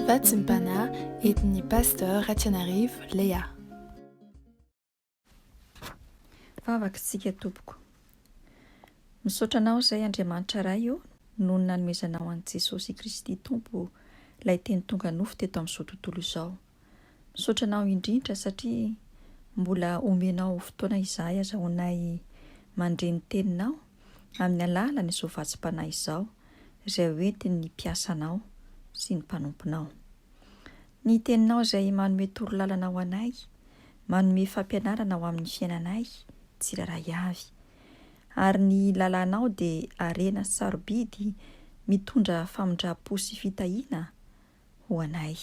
Fatsimpana entin'ny Pasteur Ratsianarivo Léa. Vavaka isika tompoko. Misaotra anao izay Andriamanitra Ray o noho ny nanomezanao an'i Jesosy Kristy Tompo Ilay Teny tonga nofo teto amin'izao tontolo izao. Misaotra anao indrindra satria mbola omenao fotoana izahay azahoanay mandre ny teninao amin'ny alalan'izao vatsim-panahy izao izay hoentin'ny mpiasanao sy ny mpanomponao. Ny teninao izay manome toro lalana ho anay, manome fampianarana ho amin'ny fiainanay tsirairay avy. Ary ny lalànao dia harena sarobidy mitondra famindram-po sy fitahiana, ho anay.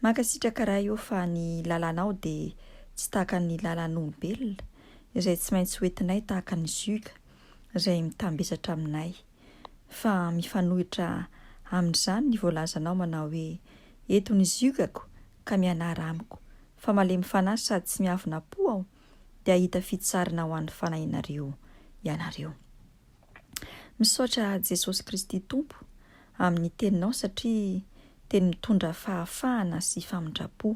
Mankasitraka Ray ô fa ny lalanao dia tsy tahaka ny lalan'olobelona izay tsy maintsy ho entinay tahaka ny zug izay mitambesatra aminay fa mifanohitra amin'izany ny voalazanao manao hoe eto ny zugako ka mianara amiko fa malemy fanahy sady tsy miavona po aho dia hahita fitsarana ho an'ny fanahinareo ianareo. Misaotra Jesosy Kristy Tompo amin'ny Teninao satria Teny mitondra fahafahana sy famindram-po.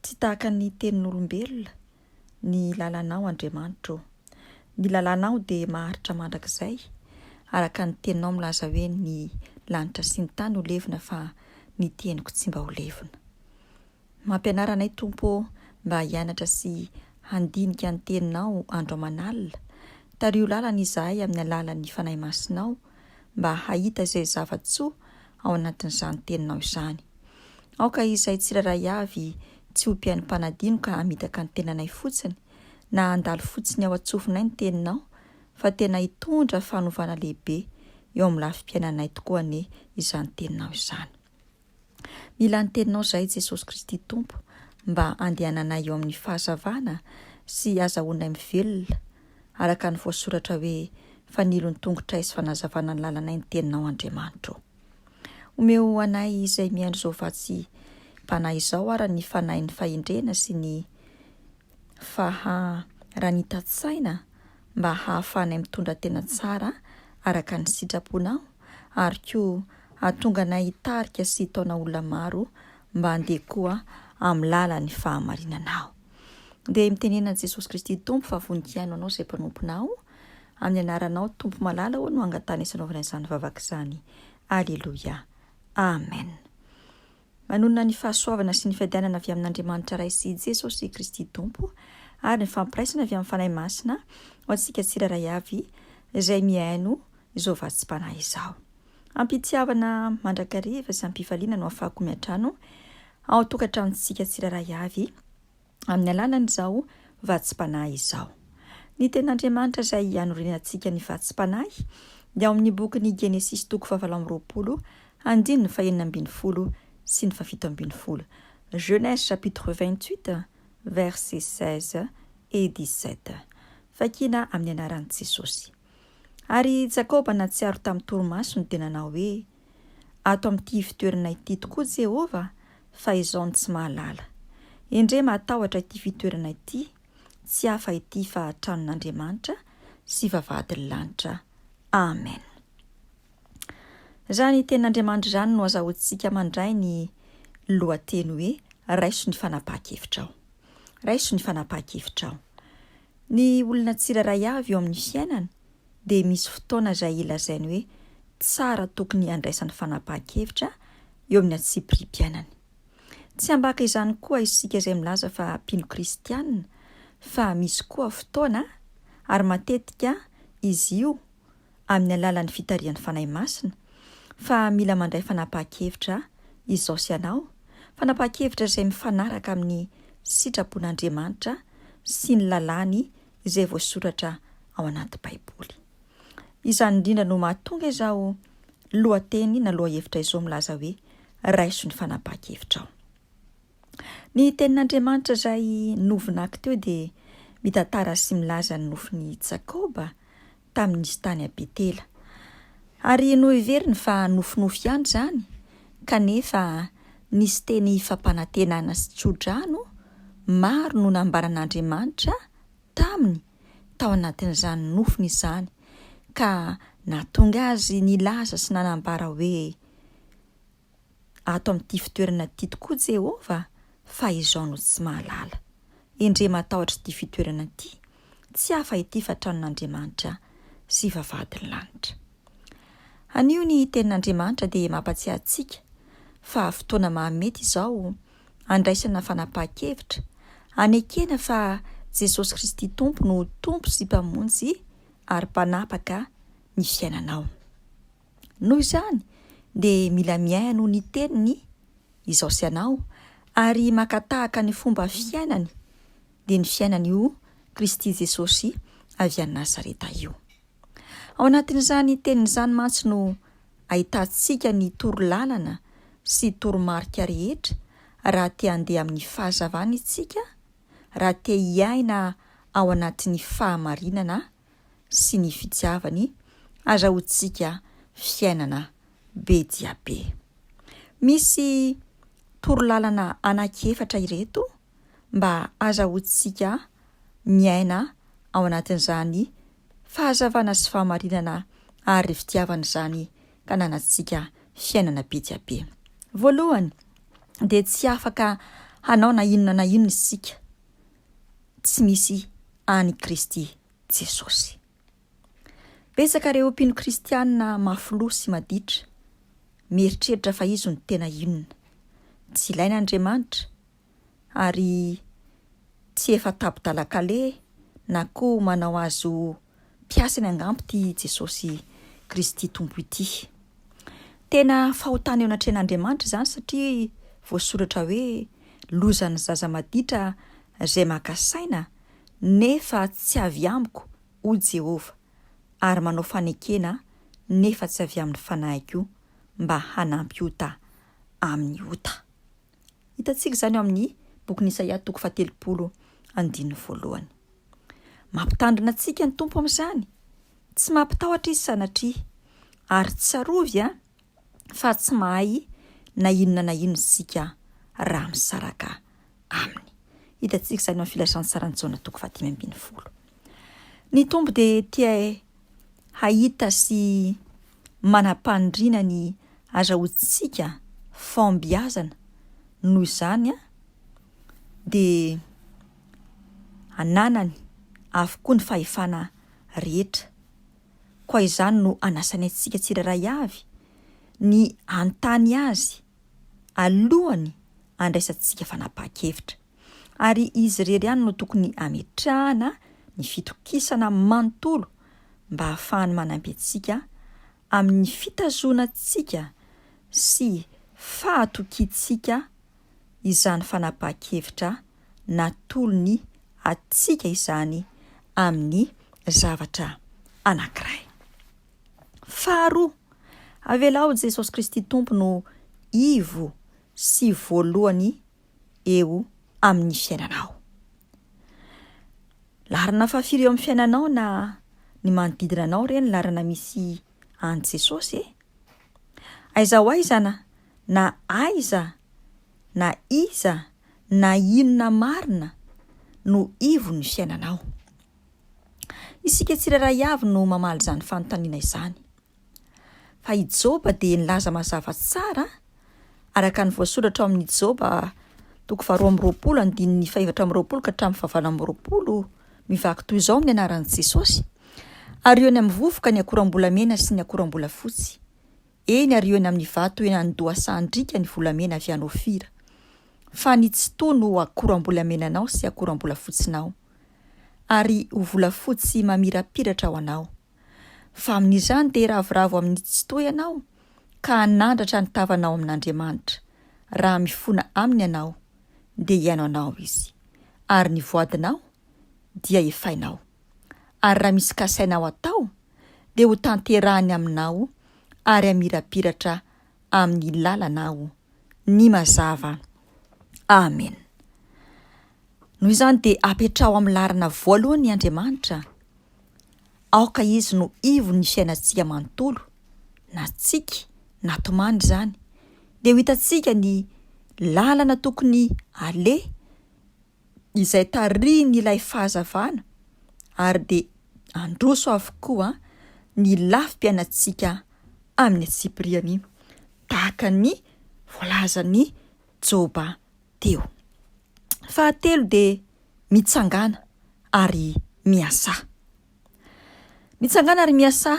Tsy tahaka ny tenin'olombelona ny lalanao Andriamanitra ô. Ny lalanao dia maharitra mandrakizay araka ny Teninao milaza hoe ny lanitra sy ny tany ho levona fa ny teniko tsy mba ho levona. Mampianara anay Tompo ô mba hianatra sy handinika ny Teninao andro aman'alina, tariho lalana izahay amin'ny alalan'ny Fanahy Masinao mba hahita izay zava-tsoa ao anatin'izany Teninao izany. Aoka izahay tsirairay avy tsy ho mpiainim-panadino ka hamitaka ny tenanay fotsiny na handalo fotsiny ao an-tsofinay ny Teninao fa tena hitondra fanovana lehibe eo amin'ny lafim-piainanay tokoa anie izany Teninao izany. Mila ny Teninao izahay, Jesosy Kristy Tompo, mba handehananay eo amin'ny fahazavana sy hazahoanay mivelona araka ny voasoratra hoe, Fanilo ny tongotray sy fanazavana ny lalanay ny Teninao, Andriamanitro ô. Omeo anay izay mihaino izao vatsy-panahy izao ary ny fanahin'ny fahendrena sy ny. fa raha ny hitan-tsaina mba hahafahanay mitondra tena tsara araka ny sitraponao ary koa hahatonga anay hitarika sy hitaona olona maro mba handeha koa amin'ny lalan'ny fahamarinanao. Dia mitenena an'i Jesosy Kristy Tompo fa vonikaino anao izay mpanomponao, amin'ny anaranao Tompo malala ô no angatahana isanaovana izany vavaka izany. Aleloia. Amen. Manonona ny fahasoavana sy ny fiadianana avy amin'Andriamanitra Ray sy Jesosy Kristy Tompo ary ny fampiraisana avy amin'ny Fanahy Masina ho antsika tsirairay avy izay mihaino izao vatsim-panahy izao. Am-pitiavana mandrakariva sy am-pifaliana no afahako miantrano ao an-tokantranontsika tsirairay avy, amin'ny alalan'izao vatsim-panahy izao. Ny tena Andriamanitra izay hanoriana antsika ny vatsim-panahy dia ao amin'ny bokin'ny Genesisy toko fahavalo amby roapolo andininy fahenina ambin'ny folo sy ny fahafito ambin'ny folo, Genèse chapitre vingt-huit versets seize et dix-sept, fakina amin'ny anaran'i Jesosy. Ary i Jakoba nahatsiaro tamin'ny torimasony dia nanao hoe. ato amin'ity ivotoerana ity tokoa Jehovah fa izao no tsy mahalala. Endrey mahatahotra ity fitoerana ity, tsy hafa ity fa tranon'Andriamanitra sy vavahadin'ny lanitra. Amen. Izany tenin'Andriamanitra izany no azahoantsika mandray ny lohateny hoe Raiso ny fanapahan-kevitrao. Raiso ny fanapahan-kevitrao. Ny olona tsirairay avy eo amin'ny fiainana dia misy fotoana izay ilazainy hoe tsara tokony handraisany fanapahan-kevitra eo amin'ny antsipiriam-piainany. Tsy ambaka izany koa isika izay milaza fa mpino kristiana fa misy koa fotoana, ary matetika izy io amin'ny alalan'ny fitarihan'ny Fanahy Masina, fa mila mandray fanapahan-kevitra izao sy ianao, fanapahan-kevitra izay mifanaraka amin'ny sitrapon'Andriamanitra sy ny lalàny izay voasoratra ao anaty Baiboly. Izany indrindra no mahatonga izao lohateny na lohahevitra izao milaza hoe Raiso ny fanapahan-kevitrao. Ny tenin'Andriamanitra izay novonaky teo dia mitantara sy milaza ny nofin'i Jakoba tamin'izy tany à Betela. Ary noheveriny fa nofinofy ihany izany, kanefa nisy teny fampanantenana sy tsodrano maro no nambaran'Andriamanitra taminy tao anatin'izany nofiny izany, ka nahatonga azy nilaza sy nanambara hoe, ato amin'ity fitoerana ity tokoa Jehovah, fa izao no tsy mahalala. Endrey matahotra ity fitoerana ity, tsy hafa ity fa tranon'Andriamanitra sy vavahadin'ny lanitra. Anio ny Tenin'Andriamanitra dia mampatsiahy antsika fa fotoana mahamety izao handraisana fanapahan-kevitra, hanekena fa Jesosy Kristy Tompo no Tompo sy Mpamonjy ary Mpanapaka ny fiainanao. Noho izany dia mila mihaino ny teniny izao sy anao ary maka tahaka ny fomba fiainany dia ny fiainan'io Kristy Jesosy avy any Nazareta io. Ao anatin'izany teniny izany mantsy no ahitantsika ny toro lalana sy toromarika rehetra raha te handeha amin'ny fahazavana itsika, raha te hiaina ao anatin'ny fahamarinana sy ny fitiavany azahoantsika fiainana be dia be. Misy torolalana anankiefatra ireto mba azahoantsika miaina ao anatin'izany fahazavana sy fahamarinana ary fitiavana izany ka nanantsika fiainana be dia be. Voalohany dia tsy afaka hanao na inona na inona isika tsy misy an'i Kristy Jesosy. Betsaka ireo mpino kristiana mafiloha sy maditra, mieritreritra fa izy no tena inona. Tsy ilaina Andriamanitra, ary tsy efa tabo-dalan-kaleha na koa manao azy ho mpiasany angamba ity Jesosy Kristy Tompo ity. Tena fahotana eo anatrehan'Andriamanitra izany satria voasoratra hoe lozan'ny zaza maditra izay maka saina nefa tsy avy amiko, hoy Jehovah, ary manao fanekena nefa tsy avy amin'ny fanahiko mba hanampy ota amin'ny ota. Hitantsika izany ao amin'ny bokin'i Isaia toko fahatelopolo andininy voalohany. Mampitandrina antsika ny Tompo amin'izany. Tsy mampitahotra izy sanatria. Ary tsarovy a, fa tsy mahay na inona na inona isika raha misaraka aminy. Hitantsika izany ao amin'ny filazantsaran'i Jaona toko fahadimy ambin'ny folo. Ny Tompo dia tia hahita sy manam-paniriana ny azahoantsika fahombiazana noho izany dia ananany avokoa ny fahefana rehetra. Koa izany no anasany antsika tsirairay avy ny hanontany azy alohan'ny handraisantsika fanapahan-kevitra. ary izy irery ihany no tokony hametrahana ny fitokisana manontolo mba hahafahany manampy antsika amin'ny fitazonantsika sy fahatokiantsika izany fanapahan-kevitra natolony antsika izany amin'ny zavatra anankiray. Faharoa, avelao Jesosy Kristy Tompo no ivo sy voalohany eo amin'ny fiainanao. Laharana fahafiry eo amin'ny fiainanao na ny manodidina anao re ny laharana misy an'i Jesosy e? Aiza ho aiza na, na aiza, na iza, na inona marina no ivon'ny fiainanao? Isika tsirairay avy no mamaly izany fanontaniana izany. Fa i Joba dia nilaza mazava tsara, araka ny voasoratra ao amin'ny Joba toko faharoa amby roapolo andininy fahefatra amby roapolo ka hatramin'ny fahavalo amby roapolo, mivaky toy izao ny anaran'i Jesosy, Ary eo ny amin'ny vovoka ny akoram-bolamena sy ny akoram-bolafotsy, eny, ary eo ny amin'ny vato eny an-dohasahan-driaka ny volamena avy any Ofira, fa ny tsitoha no ho akoram-bolamenanao sy akoram-bolafotsinaoary ho volafotsy mamirapiratra ho anao. fa amin'izany dia hiravoravo amin'ny tsy toa ianao ka hanandratra ny tavanao amin'Andriamanitra, raha mifona Aminy ianao dia hihaino anao Izy, ary ny voadinao dia efainao, ary raha misy kasainao atao dia hotanterahiny aminao ary hamirapiratra amin'ny lalana aho ny mazava. Amen. Noho izany dia apetraho amin'ny laharana voalohany Andriamanitra, aoka izy no ivon'ny fiainantsika manontolo, na tsiky na tomany izany, dia ho hitantsika ny lalana tokony aleha izay tarihin' ilay fahazavana ary dia handroso avokoa ny lafim-piainantsika amin'ny antsipiriany, tahaka ny voalazan'i Joba teo. Fahatelo dia mitsangàna ary miasà. Mitsangàna ary miasà!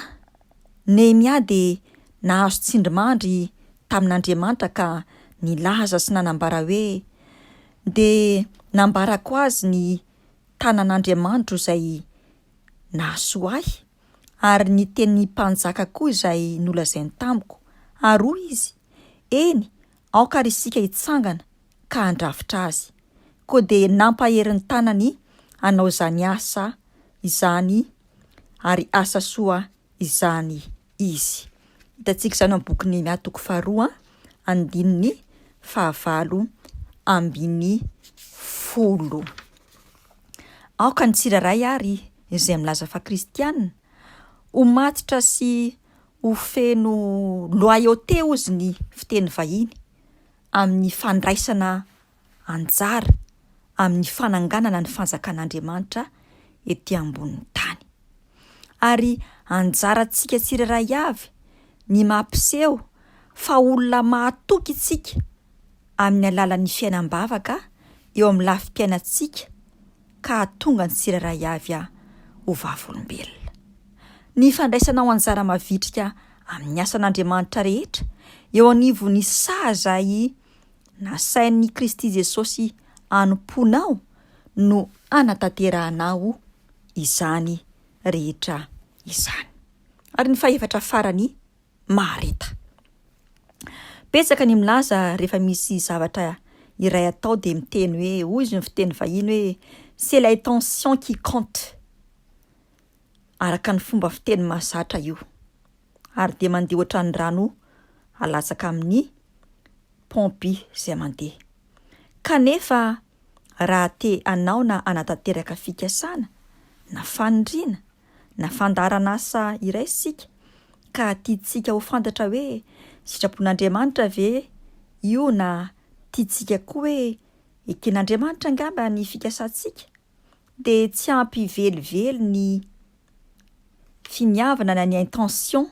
Nehemia dia nahazo tsindrimandry tamin'Andriamanitra ka nilaza sy nanambara hoe, Dia nambarako azy ny tanan'Andriamanitro izay nahasoa ahy, ary ny tenin'ny mpanjaka koa izay nolazainy tamiko, ary hoy izy, Eny, Aoka ary isika hitsangana ka handrafitra azy. Koa dia nampahery ny tanany hanao izany asa izany ary asa soa izany izy. Hitantsika izany ao amin'ny bokin'i Nehemia toko faharoa andininy fahavalo ambin'ny folo. Aoka ny tsirairay ary izay milaza fa kristiana ho matotra sy ho feno loyauté ozy ny fiteny vahiny amin'ny fandraisana anjara amin'ny fananganana ny fanjakan'Andriamanitra ety ambonin'ny tany. Ary anjarantsika tsirairay avy ny mampiseho fa olona mahatoky isika amin'ny alalan'ny fiainam-bavaka eo amin'ny lafim-piainantsika, ka hahatonga ny tsirairay avy aho ho vavolombelona. Ny fandraisanao anjara mavitrika amin'ny asan'Andriamanitra rehetra eo anivon'ny saha izay nasain'i Kristy Jesosy hanompoanao no hanatanterahanao izany rehetra izany. Ary ny fahefatra farany, mahareta. Betsaka ny milaza rehefa misy zavatra iray atao dia miteny hoe, hoy izy ny fiteny vahiny hoe c'est l'intention qui compte, araka ny fomba fiteny mahazatra io, ary dia mandeha ohatran'ny rano alatsaka amin'ny paompy izay mandeha. Kanefa raha te hanao na hanatanteraka fikasana na faniriana, na fandaharan'asa iray isika ka tiantsika ho fantatra hoe sitrapon'Andriamanitra ve io na tiantsika koa hoe eken'Andriamanitra angamba ny fikasantsika, dia tsy ampy velively ny finiavana na ny intention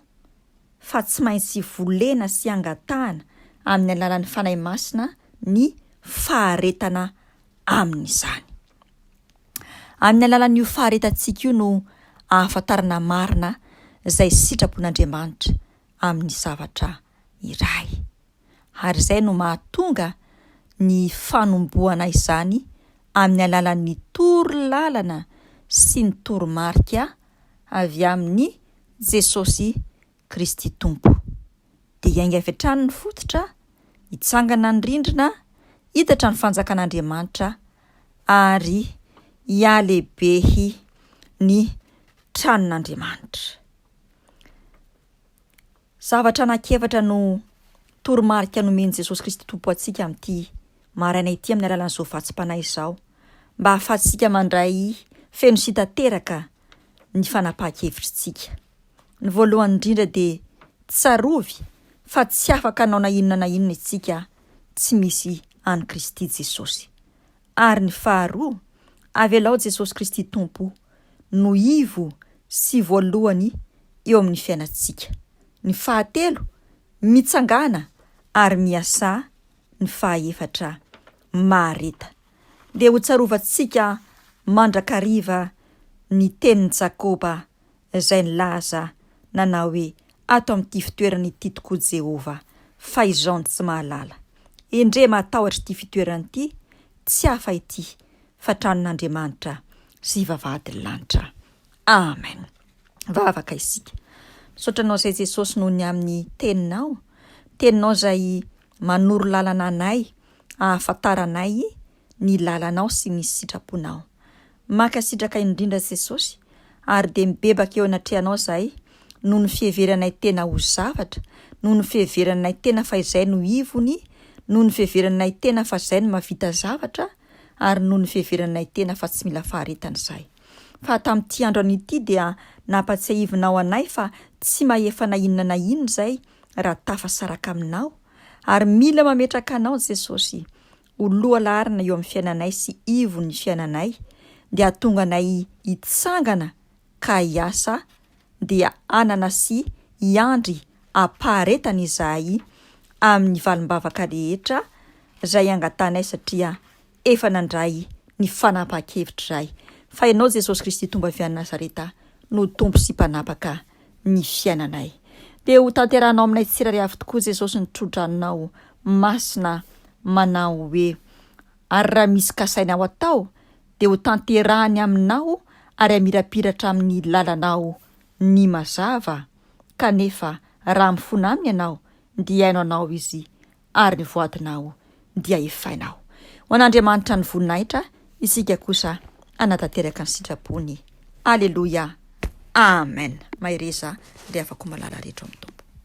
fa tsy maintsy volena sy angatahana amin'ny alalan'ny Fanahy Masina ny faharetana amin'izany. Amin'ny alalan'io faharetantsika io no ahafantarana marina izay sitrapon'Andriamanitra amin'ny zavatra iray. Ary izay no mahatonga ny fanombohana izany amin'ny alalan'ny toro lalana sy ny toromarika avy amin'i Jesosy Kristy Tompo. Dia hiainga avy hatrany ny fototra, hitsangana ny rindrina, hidatra ny fanjakan'Andriamanitra, ary hihalehibehy ny tranon'Andriamanitra. Zavatra anankiefatra no toromarika nomen'i Jesosy Kristy Tompo antsika amin'ity maraina ity amin'ny alalan'izao vatsim-panahy izao, mba hahafahantsika mandray feno sy tanteraka ny fanapahan-kevitritsika. Ny voalohany indrindra dia tsarovy fa tsy afaka hanao na inona na inona isika tsy misy an'i Kristy Jesosy. Ary ny faharoa, avelao Jesosy Kristy Tompo no ivo sy voalohany eo amin'ny fiainantsika. Ny fahatelo, mitsangàna ary miasà ny fahaefatra mahareta. Dia hotsarovantsika mandrakariva ny tenin'i Jakoba. izay nilaza nanao hoe, Ato amin'ity fitoerana ity tokoa Jehovah, fa izao no tsy mahalala. Endrey matahotra ity fitoerana ity, tsy hafa ity fa tranon'Andriamanitra sy vavahadin'ny lanitra. Amen. Vavaka isika. Misaotra anao izay Jesosy noho ny amin'ny teninao, teninao izay manoro lalana anay, ahafantaranay ny lalanao sy ny sitraponao. Mankasitraka indrindra Jesosy ary dia mibebaka eo anatrehanao zahay noho ny fiheveranay tena ho zavatra, noho ny fiheveranay tena fa izay no ivony, noho ny fiheveranay tena fa zay no mahavita zavatra ary noho ny fiheveranay tena fa tsy mila faharetana zahay. Fa tamin'ity andro anio ity dia nampatsiahivinao anay fa tsy mahefa na inona na inona izay raha tafasaraka aminao ary mila mametraka anao Jesosy ho lohalarina eo amin'ny fiainanay sy ivon'ny fiainanay dia hahatonga anay hitsangana ka hiasa dia hanana sy hiandry am-paharetana izahay amin'ny valim-bavaka rehetra izay angatanay satria efa nandray ny fanapahan-kevitra izahay fa Ianao Jesosy Kristy Tompo avy any Nazareta no Tompo sy Mpanapaka ny fiainanay. Dia ho tanterahinao aminay tsirairay avy tokoa Jesosy ny trodranonao masina manao hoe ary raha misy kasainao atao dia ho tanterahany aminao ary hamirapiratra amin'ny lalanao ny mazava kanefa raha mifona aminy ianao dia haino anao izy Ary ny voadinao dia efainao. Ho an'Andriamanitra ny voninahitra, isika kosa hanatanteraka ny sitrapony. Aleloia! Amen! Mahereza, ry havako malala rehetra ao amin'ny Tompo.